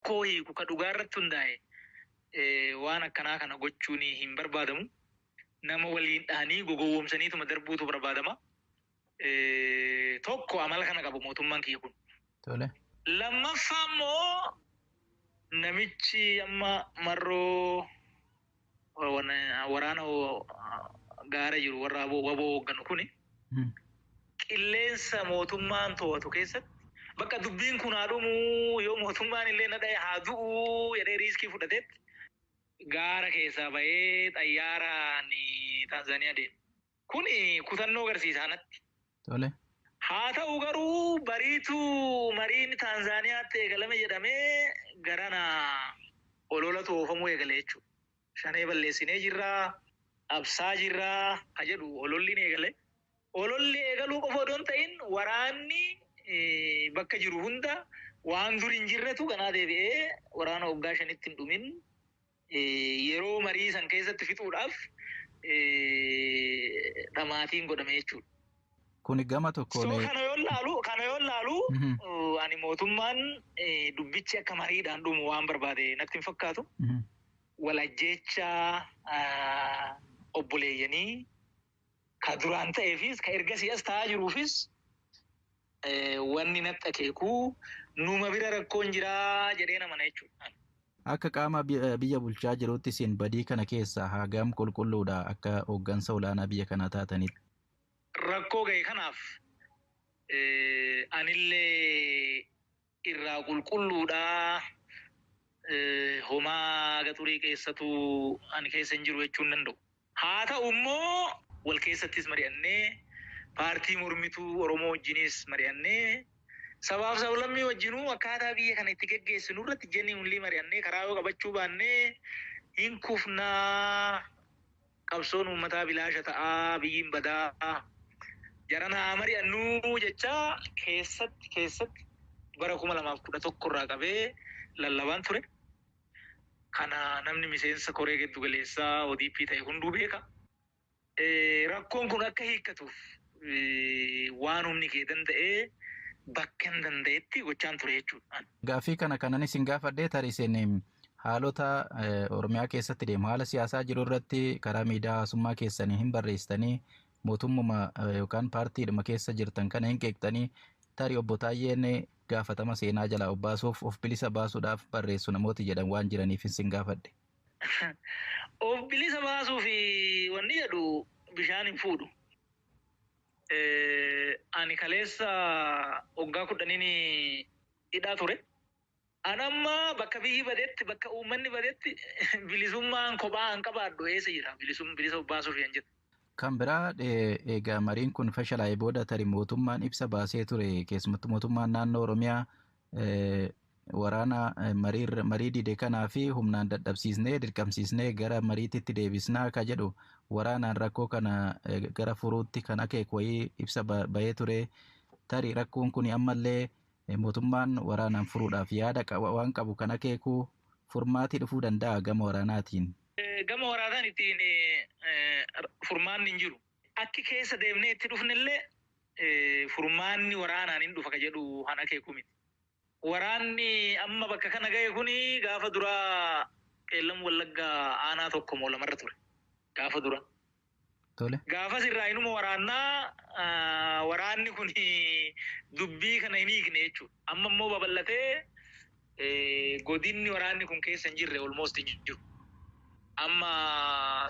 rakkoo hiiku ka dhugaa irratti hundaa'e waan akkanaa kana gochuun hin barbaadamu. Nama waliin dhahanii gogowwoomsaniituma darbuutu barbaadama. Tokko amala kana qaba mootummaan kiyya kun. Tole. Lammaffaa immoo namichi amma marroo waraana gaara jiru warra wbo hoogganu kuni qilleensa mootummaan to'atu keessatti bakka dubbiin kun haa dhumuu yoo mootummaan illee na dhaye haa du'uu jedhee riiskii fudhateetti gaara keessaa bahee xayyaaraan Taanzaaniyaa deema. Kun kutannoo garsiisa anatti. Tole. Haa ta'u garuu bariituu mariin Taanzaaniyaatti eegalame jedhamee garana ololatu oofamuu eegale jechuudha. Shanee balleessinee jirra, cabsaa jirra ka jedhu ololliin eegale. Ololli eegaluu qofa odoo hin ta'in waraanni bakka jiru hunda waan dur hin jirretu ganaa deebi'ee waraana waggaa shanitti hin dhumin yeroo marii san keessatti fixuudhaaf dhamaatiin godhame jechuudha. Kuni gama So tokkoon kana yoon laalu kana yoon laalu Mhm. ani mootummaan eh, dubbichi akka mariidhaan dhumu waan barbaade natti hin fakkaatu. Mhm. Wal ajjeechaa ah, obboleeyyanii ka duraan ta'eefiis ka ergasii as ta'aa jiruufis wanni natti akeeku numa bira rakkoon jira jedheen amana jechuudha. Akka qaama biyya bulchaa jiruutti isin badii kana keessaa hagam qulqulluudha akka hooggansa olaanaa biyya kanaa taatanitti? Rakkoo gahe kanaaf anillee irraa qulqulluudha homaa gaxurii keessatu ani keessa hin jiru jechuun danda'u. Haa ta'u immoo wal keessattis mari'annee paartii mormituu Oromoo wajjinis mari'annee sabaaf sablammii wajjinuu akkaataa biyya kana itti geggeessinu irratti genuinely mari'annee karaa yoo qabachuu baannee hin kufnaa. qabsoon uummataa bilaasha ta'aa Abiyyiin badaa jarana haa mari'annuu jechaa keessatti keessatti bara 2011 irraa qabee lallabaan ture. Kana namni miseensa koree giddu galeessaa ODP ta'e hunduu beeka. Rakkoon kun akka hiikkatuuf waan humni kee danda'e bakkan danda'etti gochaan ture jechuudha. Gaaffii kana kanan isin gaafadhe tarii isin Haalota Oromiyaa keessatti deemu haala siyaasaa jiru irratti karaa miidiyaa hawaasummaa keessanii hin barreessitanii mootummuma yookaan paartiidhuma keessa jirtan kana hin qeeqxanii tarii obbo Taayyeen gaafatama seenaa jalaa of baasuuf of bilisa baasuudhaaf barreessu namooti jedhan waan jiraniif isin gaafadhe. Of bilisa baasuuf wanni jedhu bishaan hin fuudhu. Ani kaleessa waggaa kudhaniin hidhaa ture. An amma bakka biyyi badetti, bakka uummanni badetti bilisummaan kophaa an qabaadhu eessa jira? Bilisum, bilisa of baasuuf yan jedhu. Kan biraa e, eega mariin kun fashalaa'e booda tarii mootummaan ibsa baasee ture, keessumattuu mootummaan naannoo Oromiyaa e, waraana e, marii, marii dide kanaa fi humnaan dadhabsiisnee, dirqamsiisnee gara mariititti deebisnaa ka jedhu waraanaan rakkoo kana e, gara furuutti kan akeeku wayii ibsa ba, bahee ture. Tarii rakkoon kun ammallee Mootummaan waraanaan furuudhaaf yaada waan qabu kan akeeku furmaati dhufuu danda'aa gama waraanaatiin? Gama waraanaan ittiin furmaanni hin jiru. Akki keessa deemnee itti dhufnellee furmaanni waraanaan hin dhufa ka jedhu kan akeeku miti. Waraanni amma bakka kana gahe kun gaafa duraa Qeellam Wallaggaa aanaa tokko moo lamarra ture. Gaafa dura. Tole. Gaafas irraa inuma waraannaa ah, waraanni kun dubbii kana hin hiikne jechuudha. Amma immoo babal'atee eh, godinni waraanni kun keessa hin jirre almost hin jiru. Amma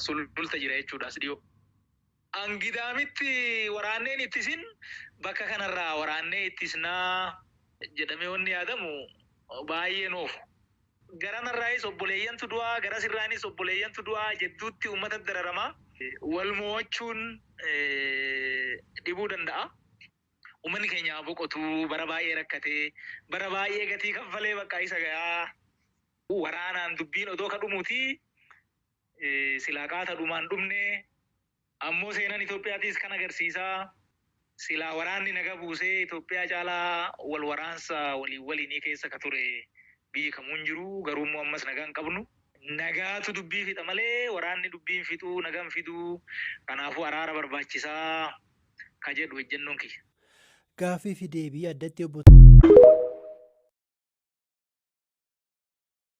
sululta jira jechuudha as dhiyoo. Angidaamitti waraanneen ittisin bakka kanarraa waraannee ittisnaa jedhamee wanni yaadamu baay'ee noofu. Garamarraayis obboleeyyantu du'a, garasirraanis obboleeyyantu du'a, jedduutti uummatatu dararama. Wal moo'achuun dhibuu danda'a. Uummanni keenya haa boqotu, bara baay'ee rakkate, bara baay'ee gatii kaffalee bakka isa gayaa. Waraanaan dubbiin odoo ka dhumuutii silaa qaata dhumaan dhumnee. Ammoo seenan Itoophiyaatiis kan agarsiisa. Silaa waraanni naga buusee Itoophiyaa caalaa wal waraansa waliin waliinii keessa ka ture biyyi kamuu hin jiru. Garuu immoo ammas nagaa hin qabnu. Nagaatu dubbii fixa malee waraanni dubbii hin fixu, naga hin fidu. Kanaafuu araara barbaachisa ka jedhu ejjennoon kiyya. Gaaffii fi deebii addatti Obbo.